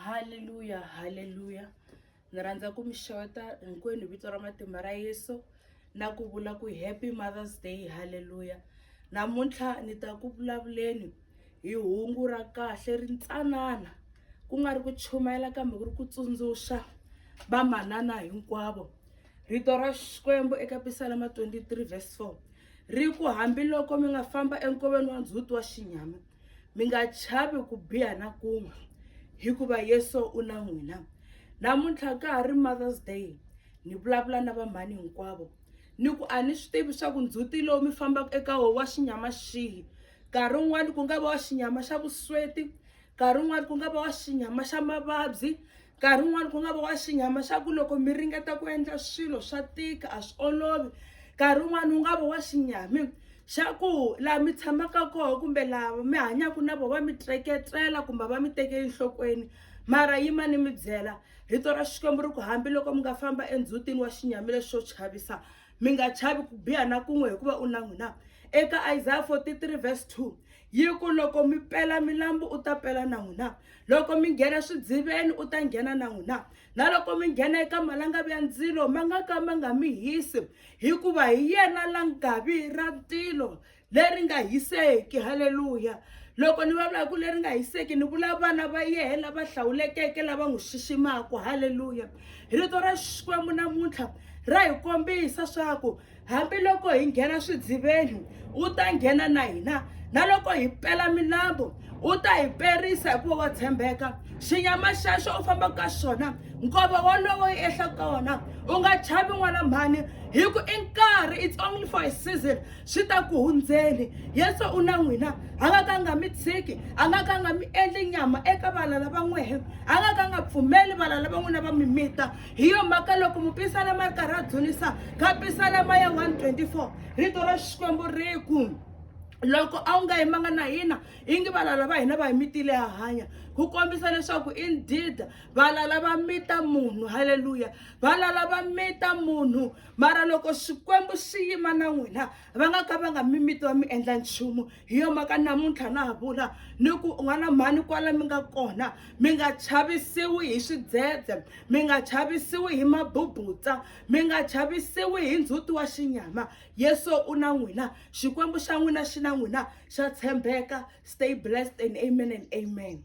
haleluya haleluya ni rhandza ku mi xota hinkwenu vito ra matimba ra yesu na ku vula ku happy mothers day haleluya namuntlha ni ta ku vulavuleni hi hungu ra kahle ri ntsanana ku nga ri ku chumayela kambe ku ri ku tsundzuxa vamanana hinkwavo rito ra xikwembu eka pisalama 23 vs 4 ri ku hambiloko mi nga famba enkoveni wa ndzhuti wa xinyama mi nga chavi ku biha na kun'we hikuva yesu u na n'wina namuntlha ka ha ri mothers day ni vulavula na vamhani hinkwavo ni ku a ni swi tivi swa ku ndzhuti lowu mi fambaka eka wo wa xinyama xihi nkarhi wun'wani ku nga va wa xinyama xa vusweti nkarhi wun'wani ku nga va wa xinyama xa mavabyi nkarhi wun'wani ku nga va wa xinyama xa ku loko mi ringeta ku endla swilo swa tika a swi olovi nkarhi wun'wani wu nga va wa xinyami xa ku laha mi tshamaka kona kumbe laha mi hanyaka na vona va mi treketela kumbe va mi teke enhlokweni mara yima ni mi byela rito ra xikwembu ri ku hambiloko mi nga famba endzhutini wa xinyami lexi xo chavisa mi nga chavi ku biha na kun'we hikuva u na n'wina eka isaya 43 verse 2 yi ku loko mi pela milambu u ta pela na n'wina loko mi nghena swidziveni u ta nghena na n'wina na loko mi nghena eka malangavi ya ndzilo ma nga ka ma nga mi hisi hikuva hi yena la ngavi ra ntilo leri nga hiseki halleluya loko ni vulavula ku leri nga hiseki ni vula vana va yehe lava hlawulekeke lava n'wi xiximaka halleluya rito ra xikwembu namuntlha ra hi kombisa swaku hambiloko hi nghena swidziveni u ta nghena na hina na loko hi pela milambu u ta hi perisa hikuva wa tshembeka xinyama xexo u fambaka ka xona nkova wolowo yi ehla ka wona u nga chavi n'wana mhani hi ku i nkarhi it's only for a season swi ta ku hundzeni yesu u na n'wina a nga ka nga mi tshiki a nga ka nga mi endli nyama eka valala va n'wehe a nga ka nga pfumeli valala va n'wina va mimita hi yo mhaka loko mupisana ma ri karhi a dzunisa ka pisana ma ya 124 rito ra xikwembu ri ku loko a wu nga yimanga na hina ingi valala va hina va hi mitile ya hanya ku kombisa leswaku indeed valala va mita munhu halleluya valala va mita munhu mara loko xikwembu xi yima na n'wina va nga ka va nga mimiti va mi endla nchumu hi yo mhaka namuntlha na ha vula ni ku un'wana mhani kwala mi nga kona mi nga chavisiwi hi swidzedze mi nga chavisiwi hi mabubutsa mi nga chavisiwi hi ndzhuti wa xinyama yesu u na n'wina xikwembu xa n'wina xi na n'wina xa tshembeka stay blessed and amen and amen